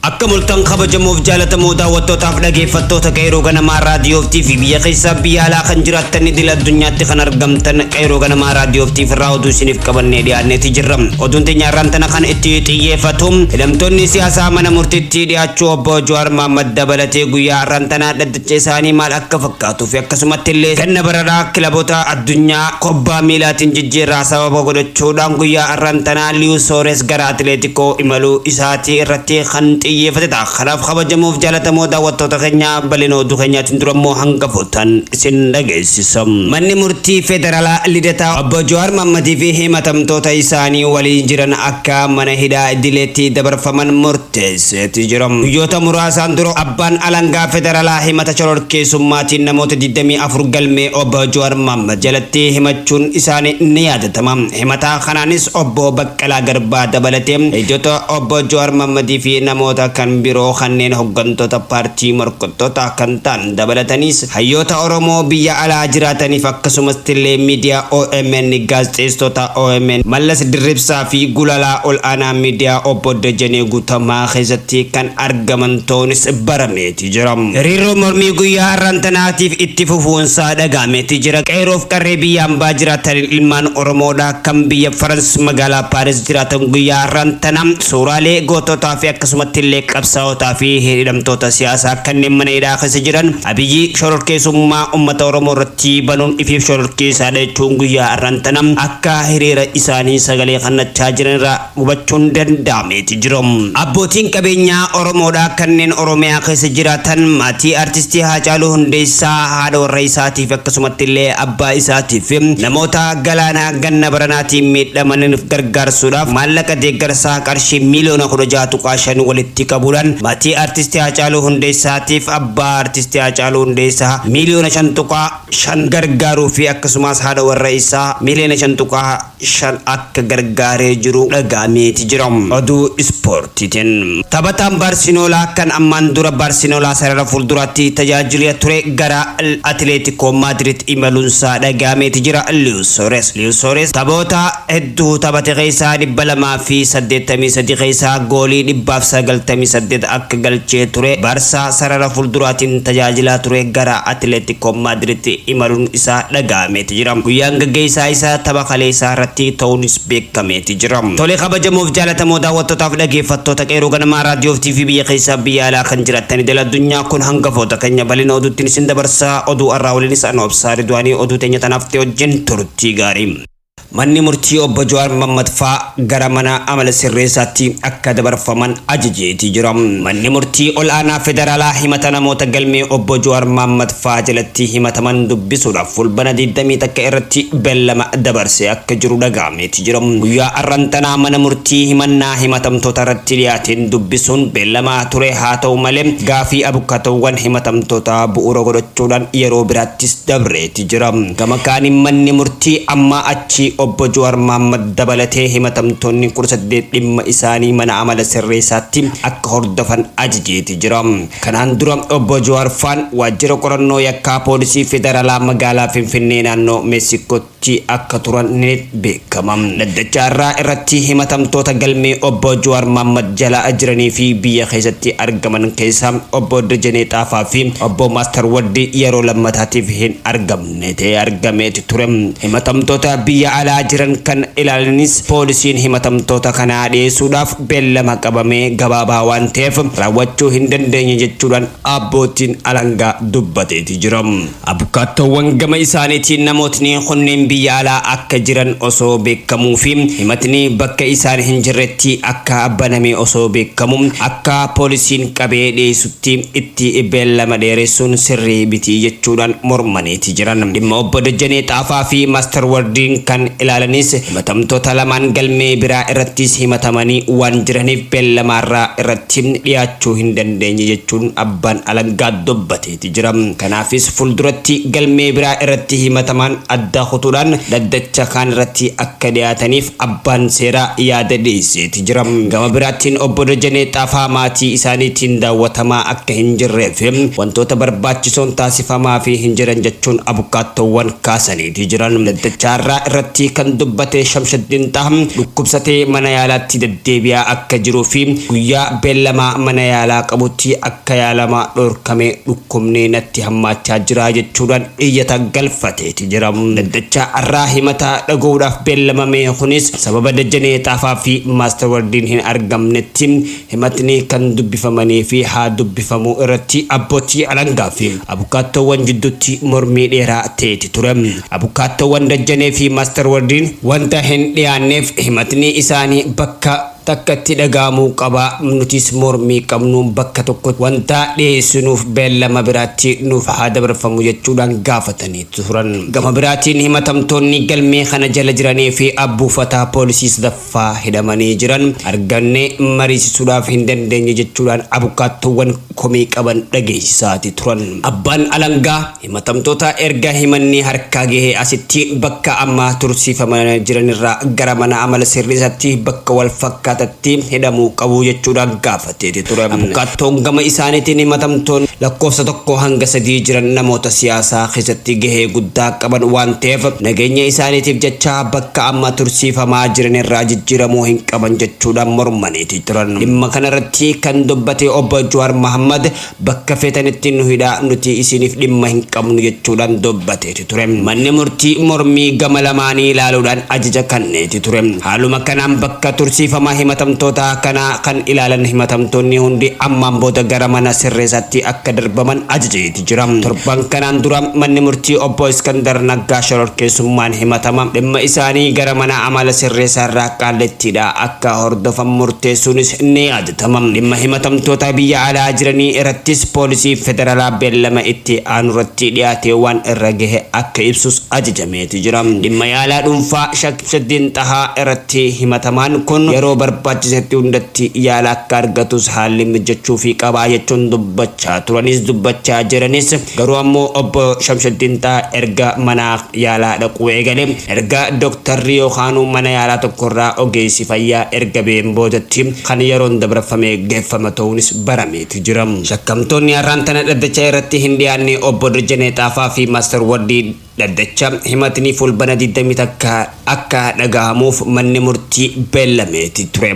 Akkam oltan kabajamoof jaalatamoo daawwattootaaf dhageeffattoota Qeeroo Ganamaa Raadiyoof TV biyya keessaaf biyya alaa kan jiraattan idil addunyaatti kan argamtan Qeeroo Ganamaa Raadiyoof TV irraa oduu isiniif qabannee dhiyaanneeti jirra. Oduun teenya har'aan tana kan itti xiyyeeffatu hidhamtoonni siyaasaa mana murtiitti dhiyaachuu obbo Jawaar Mohaammed dabalatee guyyaa har'aan tana Galcha isaanii maal akka fakkaatuu fi akkasumatti illee ganna baranaa kilabota addunyaa kubbaa miilaatiin jijjiirraa sababa godhachuu dhaan guyyaa har'an tanaa Liyu Soores gara Atileetikoo imaluu isaatii irratti kan xiyyeefate ta'a. Kanaaf kabajamoo fi jaalatamoo daawwattoota keenya bal'ina oduu keenyaatiin dura immoo hangafootaan isin dhageessisa. Manni Murtii Federaalaa Lidataa Obbo Jawaar Mahammadii fi himatamtoota isaanii waliin jiran akka mana hidhaa idileetti dabarfaman murteesse. teesseeti jira. Guyyoota muraasaan dura abbaan alangaa federalaa himata shororkeessummaatiin namoota 24 galmee Obbo Jawaar Mohammad jalatti himachuun isaanii ni yaadatama. Himata kanaanis Obbo Baqqalaa Garbaa dabalatee ijota Obbo Jawaar Mohammadii fi namoota kan biroo kanneen hoggantoota paartii morkattootaa kan ta'an Dabalataniis, hayyoota Oromoo biyya alaa jiraataniif akkasumastillee miidiyaa omn, gaazexeessitoota omn, Mallas Dirribsaa fi Gulaalaa Ol'aanaa Miidiyaa Obbo Dajanee Guutamaa keessatti kan argaman ta'uunis barameeti jira. Hiriirri mormii guyyaa har'aan tanaatiif itti fufuunsaa dhaga'ameeti jira. Qeerroof qarree biyya ambaa jiraataniin ilmaan Oromoodhaa kan biyya Farans magaalaa Paaris jiraatan guyyaa har'aan tana Suuraalee gootootaa fi akkasumatti illee qabsaa'otaa fi hidhamtoota siyaasaa kanneen mana hidhaa keessa jiran Abiyyi shororkeesummaa ummata Oromoo irratti banuun ifiif shororkeessaa dha jechuun guyyaa har'aan tana akka hiriira isaanii sagalee kannachaa jiran irraa hubachuun danda'ameeti jira. Abbootiin qabeenyaa Oromoo dha kanneen Oromiyaa keessa jiraatan maatii Artistii Haacaaluu Hundeessaa, haadha warra isaatiif akkasumatti illee abbaa isaatiif, namoota Galaanaa, ganna baranaatiin miidhamaniif gargaarsuudhaaf maallaqa deeggarsaa qarshii miiliyoona 16.5 walitti qabuudhaan maatii Artisti Haacaaluu Hundeessaatiif abbaa Artisti Haacaaluu Hundeessaa miiliyoona 5.5 gargaaruu fi akkasumaas haadha warra isaa miiliyoona 5.5 akka gargaaree jiru dhaga'ameeti jira. Oduu Ispoortiitiin. Taphataan Baarsinoolaa kan ammaan dura Baarsinoolaa sarara fuulduraatti tajaajilea ture gara Atileetikoo Maadiriid imaluunsaa dhaga'ameeti jira. Sores, Luis Sores, taphoota hedduu taphate keessaa 283 keessaa goolii 198 akka galchee ture Barsaa sarara fuulduraatiin tajaajilaa ture gara Atileetikoo Maadiritti imaluun isaa dhaga'ameeti jira. Guyyaan gaggeessaa isaa tapha kaleessaa irratti ta'uunis beekameeti jira. Tole kabajamoof jaalatamoo daawwattootaaf dhageeffattoota Qeerroo Ganamaa Raadiyoo fi TV biyya keessaa biyya alaa kan jiraattan idil addunyaa kun hangafoota keenya bal'ina oduuttiin isin dabarsaa oduu har'aa waliinis anoo Obsaa Ridwaanii oduu teenya tanaaf Maatii wajjin turtii gaarii. Manni murtii obbo Jawaar Mammad faa gara mana amala sirreessaatti akka dabarfaman ajajeetii jira. Manni murtii ol'aanaa federaalaa himata namoota galmee obbo Jawaar Mammad faa jalatti himataman dubbisuudhaaf Fulbana 21 irratti bellama dabarsee akka jiru dhaga'ameeti jira. Guyyaa arran tanaa mana murtii himannaa himatamtoota irratti dhiyaateen dubbisuun bellamaa ture haa ta'u malee gaafii abukkatoowwan himatamtootaa bu'uura godhachuudhaan yeroo biraattis dabreeti jira. jira. Gama kaaniin manni murtii ammaa achi Obbo Juwaar Mahaammad dabalatee himatamtoonni 18 dhimma isaanii mana amala sirreessaatti akka hordofan ajajeeti jira. Kanaan dura Obbo Juwaar faan waajjira qorannoo yakkaa poolisii federalaa magaalaa Finfinnee naannoo Meesikootti akka turan ni beekama. Gama dhaddachaa irraa irratti himatamtoota galmee Obbo Jawaar Mohammad jala jiranii fi biyya keessatti argaman keessaa Obbo Dajanee Xaafaa fi Obbo Master Wardi yeroo lammataatiif hin argamne ta'ee argameeti ture. Himatamtoota biyya alaa jiran kan ilaalanis poolisiin himatamtoota kanaa dhiyeessuudhaaf beellama qabame gabaabaa waan ta'eef raawwachuu hin dandeenye jechuudhaan abbootiin alangaa dubbateeti jira. Abukaattoowwan gama isaaniitiin namootni kunneen biyya alaa akka jiran osoo beekkamuu fi himatni bakka isaan hin jirretti akka baname osoo beekkamu akka poolisiin qabee dhiyeessutti itti beellama dheeressuun sirrii miti jechuudhaan mormaniiti jiran. Dhimma Obbo Dajanee Xaafaa fi Master Wardiin kan ilaalanis himatamtoota lamaan galmee biraa irrattis himatamanii waan jiraniif beellamaarraa irratti dhiyaachuu hin dandeenye jechuun abbaan alangaa dubbatee jira. ti jira. Kanaafis fulduratti galmee biraa irratti himatamaan addaa kutuudhaan dhaddacha kaan irratti akka dhiyaataniif abbaan seeraa yaada dhiyeessee ti jira. Gama biraattiin Obbo Dajanee Xaafaa maatii isaaniitiin daawwatamaa akka hin jirree fi wantoota barbaachisoon taasifamaafii hin jiran jechuun abukaattoowwan kaasanii ti jiran. Dhaddacha har'aa irratti kan dubbate Shamshaddiin Xaha dhukkubsatee mana yaalaatti deddeebi'aa akka jiruu fi guyyaa beellamaa mana yaalaa qabutti akka yaalamaa dhorkamee dhukkubni natti hammaachaa jira jechuudhaan iyyata galfateeti jira. Dhaddacha har'aa himata dhaga'uudhaaf beellamame kunis sababa Dajanee Xaafaa fi Maastar Wardiin hin argamnetti himatni kan dubbifamanii fi haa dubbifamuu irratti abbootii alangaa fi abukaattoowwan jidduutti mormii dheeraa ta'eeti ture. Abukaattoowwan Dajanee fi Maastar Wardiin wanta hin dhiyaanneef himatni isaanii bakka Takka itti dhaga'amuu qaba, nutis mormii qabnuun bakka tokkotti wanta dhiyeessinuuf beellama biraatti nuuf haa dabarfamu jechuudhaan gaafatanii turan. Gama biraatiin himatamtoonni galmee kana jala jiranii fi buufata poolisii sadaffaa hidhamanii jiran argannee mariisisuudhaaf hin dandeenye jechuudhaan abukaattoowwan komii qaban dhageessisaati turan. Abbaan alangaa. Himatamtoota erga himanni harkaa gahee asitti bakka amma tursiifaman jiranirraa gara mana amala sirreessatti bakka wal fakkaatatti hidhamuu qabu jechuudhaan gaafateeti ture. Abukaattoon gama isaaniitiin himatamtoonni lakkoofsa 1-3 jiran namoota siyaasaa keessatti gahee guddaa qaban waan ta'eef nageenya isaaniitiif jecha bakka amma tursiifamaa jiranirraa jijjiiramuu hin qaban jechuudhaan mormaniiti turan. Dhimma kanarratti kan dubbate Obbo Jawaar Mahaammad Bakka feetanitti nu hidhaa nuti isiiniif dhimma hin qabnu jechuudhaan dubbateeti ture. Manni murtii mormii gama lamaanii ilaaluudhaan ajaja kanneeti ture. Haaluma kanaan bakka tursiifama himatamtootaa kanaa kan ilaalan himatamtoonni hundi ammaan booda gara mana sirreesaatti akka darbaman ajajeeti jira. Torban kanaan dura manni murtii Obbo Iskandar Naggaa shororkeessummaan himatama dhimma isaanii gara mana amala sirreesaarraa Qaallittiidhaa akka hordofan murteessuunis ni Tamam dhimma himatamtootaa biyya alaa jiranii irattis poolisii federalaa beellama itti aanurratti dhiyaatee waan irra gahe akka ibsus ajajameeti jira. Dhimma yaalaa dhuunfaa Shek Ibsatdiin Xahaa iratti himatamaan kun yeroo barbaachisetti hundatti yaala akka argatus haalli mijjachuufii qaba jechuun dubbachaa turanis dubbachaa jiranis garuu ammoo obbo Shamsuddiin Xahaa erga manaa yaalaa dhaquu eegale. Erga doktarri yookaanuu mana yaalaa tokkorraa ogeessi fayyaa erga ba'een boodatti kan yeroon dabrfamee geeffama ta'uunis barameeti jira. Shakkamtoonni har'aan tana dhaddacha irratti hin dhiyaanne Obbo Dajanee Xaafaa fi Master Wardi dhaddacha himatni Fulbana 21 akka dhagahamuuf manni murtii beellameeti ture.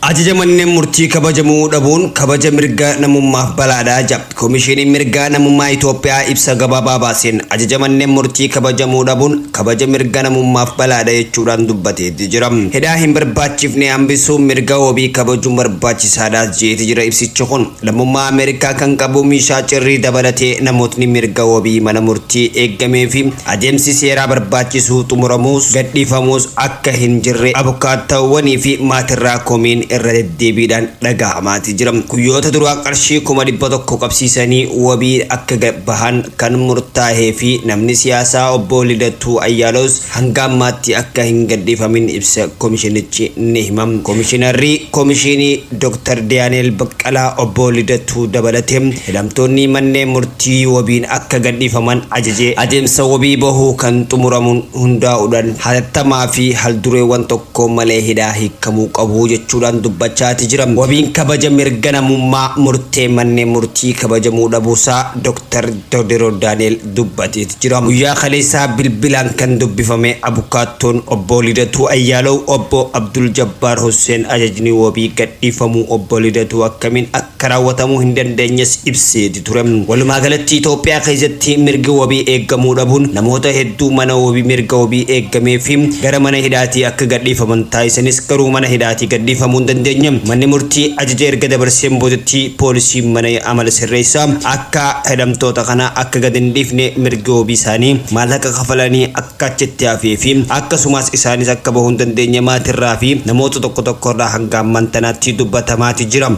Ajaja manneen murtii kabajamuu dhabuun kabaja mirga namummaaf balaadha ja. Komishiiniin Mirga Namummaa Itoophiyaa ibsa gabaabaa baaseen ajaja manneen murtii kabajamuu dhabuun kabaja mirga namummaaf balaadha jechuudhaan dubbateeti jira. Hidhaa hin barbaachifne hambisuun mirga wabii kabajuun barbaachisaadhaas jeeti jira ibsichi kun. Lammummaa Ameerikaa kan qabu Miishaa Cirrii dabalatee namootni mirga wabii mana murtii eeggameefi Adeemsi seeraa barbaachisu xumuramuus gadhiifamuus akka hin jirre abukaattaawwanii fi maatirraa komiin irra deddeebiidhaan dhagahamaati jira. Guyyoota duraa qarshii 100,000 qabsiisanii wabii akka gad bahan kan murtaahee fi namni siyaasaa Obbo Lidatuu Ayyaaloos hanga ammaatti akka hin gadhiifamin ibsa komishinichi ni hima. Komishinarri Komishiinii. Dr. Daani'eel Baqqalaa, Obbo Lidatuu dabalatee hidhamtoonni manneen murtii wabiin akka gadhiifaman ajaje adeemsa wabii bahuu kan xumuramuun hundaa'uudhaan hatattamaa fi haldureewwan tokko malee hidhaa hiikkamuu qabu jechuudhaan dubbachaati jira. Wabiin kabaja mirga namummaa murtee manneen murtii kabajamuu dhabuusaa Dr. Dodero Daani'eel dubbateet jira. Guyyaa kaleessaa bilbilaan kan dubbifame abukaattoon Obbo Lidatuu Ayyaalaw Obbo Abdul Jabbaar Husseen ajajni wabii gadhiifamuu Obbo Lidatuu akkamiin akka raawwatamuu hin dandeenyes ibseeti ture. Walumaa galatti Itoophiyaa keessatti mirgi wabii eeggamuu dhabuun namoota hedduu mana wabii mirga wabii eeggamee fi gara mana hidhaatii akka gadhiifaman taasisanis garuu mana hidhaatii gadhiifamuu hin dandeenye. Manni murtii ajaja erga dabarseen boodatti poolisiin mana amala sirreessaa akka Akka hidhamtoota kana akka gad hin dhiifne mirgi wabii isaanii maallaqa kafalanii akka achitti hafee fi akkasumaas isaanis akka bahuu hin dandeenye maatirraa fi namoota tokko tokkorraa hanga ammaan tanaatti dubbatamaati jira.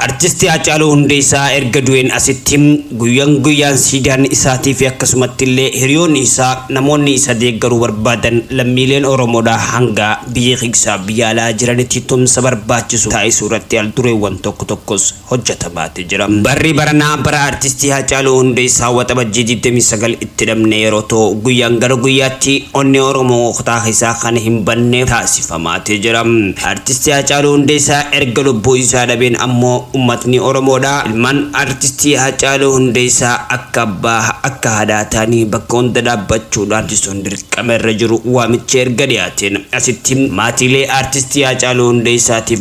Artisti Haacaaluu Hundeessaa erga du'een asitti guyyan guyyaan siidaan isaatii fi akkasumatti illee hiriyoonni isaa namoonni isa deeggaruu barbaadan lammiileen Oromoodhaa hanga biyya keeysaa biyya alaa jiranitti tumsa barbaachisu taasisuu irratti al dureewwan tokko tokkos hojjatamaati jira. Barri baranaa bara Artistii Haacaaluu Hundeessaa Waxabajjii 29 itti dhabne yeroo ta'u, guyyaan gara guyyaatti onnee Oromoo kutaa keessaa kan hin banne taasifamaati jira. Artistii Haacaaluu Hundeessaa erga lubbuu isaa dhabeen ammoo ummatni Oromoodhaa ilmaan Artistii Haacaaluu Hundeessaa akka abbaa, akka haadhaa ta'anii bakka hunda dhaabbachuudhaan taasisuun dirqama irra jiru waamichi erga dhiyaateen asitti maatiilee Artistii Haacaaluu Hundeessaatiif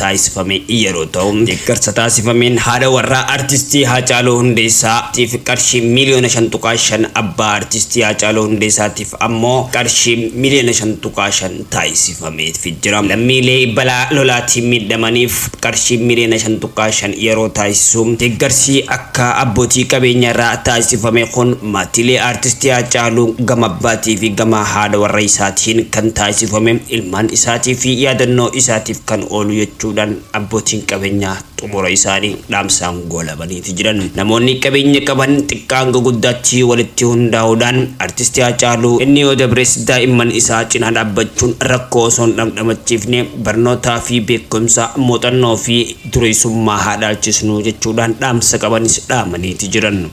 taasifame yeroo ta'u, deeggarsa taasifameen haadha warraa Artistii Haacaaluu Hundeessaa tiif qarshii miiliyoona 5.5, abbaa Artistii Haacaaluu Hundeessaa tiif ammoo qarshii miiliyoona 5.5 taasifameefi jira. Lammiilee balaa lolaatiin miidhamaniif qarshii miiliyoona 5.5 yeroo taasisu, deeggarsi akka abbootii qabeenyaarraa taasifame kun maatiilee Artistii Haacaaluu gama abbaa tiifi gama haadha warra isaatiin kan taasifame ilmaan isaatiifi yaadannoo isaatiif kan oolu jechuudhaan abbootiin qabeenyaa xumura isaanii dhaamsaan goolabaniiti jiran. Namoonni qabeenya qaban xiqqaa hanga guddaatti walitti hundaa'uudhaan artisti Haacaaluu inni yoo dabres daa'imman isaa cinaa dhaabbachuun rakkoo osoo hin dhamdhamachiifne barnootaa fi beekumsa, muuxannoo fi dureessummaa haa dhaalchisnu jechuudhaan dhaamsa qabanis dhaamaniiti jiran.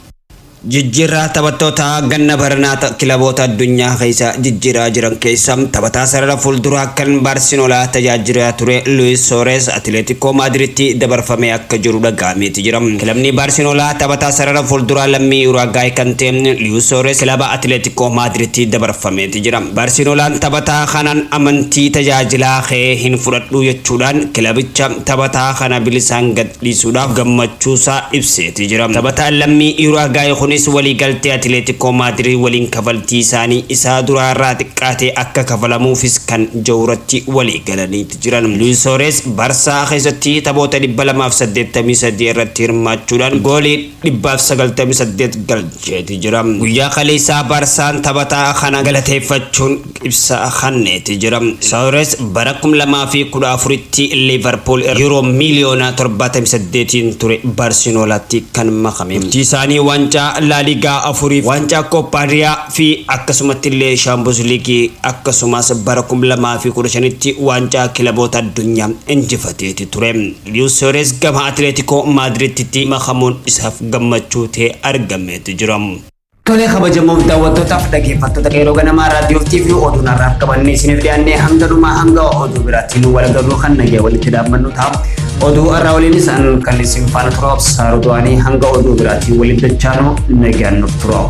Jijjiirraa taphattootaa ganna baranaa kilaboota addunyaa keessa jijjiiraa jiran keessa taphataa sarara fuulduraa kan Baarsinolaa tajaajilaa ture Luis Soores Atileetikoo Maadiritti dabarfamee akka jiru dhaga'ameeti jira. Kilabni Baarsinolaa taphataa sarara fuulduraa lammii Uraagaay kan ta'e Luis Soores kilaba Atileetikoo Maadiritti dabarfameeti jira. Baarsinolaan taphataa kanaan amantii tajaajilaa kee hin fudhadhuu jechuudhaan kilabicha taphataa kana bilisaan gad dhiisuudhaaf gammachuusaa ibseeti jira. Taphataan lammii Uraagaay kunis waliigaltee Atileetikoo Maadirid waliin kafaltiisaanii isaa duraa irraa xiqqaate akka kafalamuufis kan jawratti waliigalaniiti jiran. Luis Suarez Barsaa keessatti taphoota 283 irratti hirmaachuudhaan goolii. 198 galcheeti jira. Guyyaa kaleessaa Baarsaan taphataa kana galateeffachuun ibsa kanneeti jira. Soores bara 2014tti Liivarpuul irraa Yuuroo miiliyoona 78n ture Baarsinoolaatti kan makame. Turtii isaanii waancaa Laaligaa afuriif, waancaa Kooppaa Riyaa fi akkasumattillee Shaampiyoons Liigii akkasumas bara 2015tti waancaa kilaboota addunyaa injifateeti ture. Luis Suarez gama Atileetikoo Maadiriiditti makamuun isaaf gammachuu ta'ee argameetu jira. Tolee kabajamoof daawwattootaaf dhaggeeffattoota qeerroo ganamaa raadiyoof TV oduun har'aaf qabannee isiniif dhiyaannee hanga dhumaa hanga oduu biraatiin wal agarruu kan nagee walitti dhaabbannu ta'a. Oduu har'aa waliinis an kan isin faana turaaf saarutuwaanii hanga oduu biraatiin walitti dachaanuu nagaan nuuf turaa'u.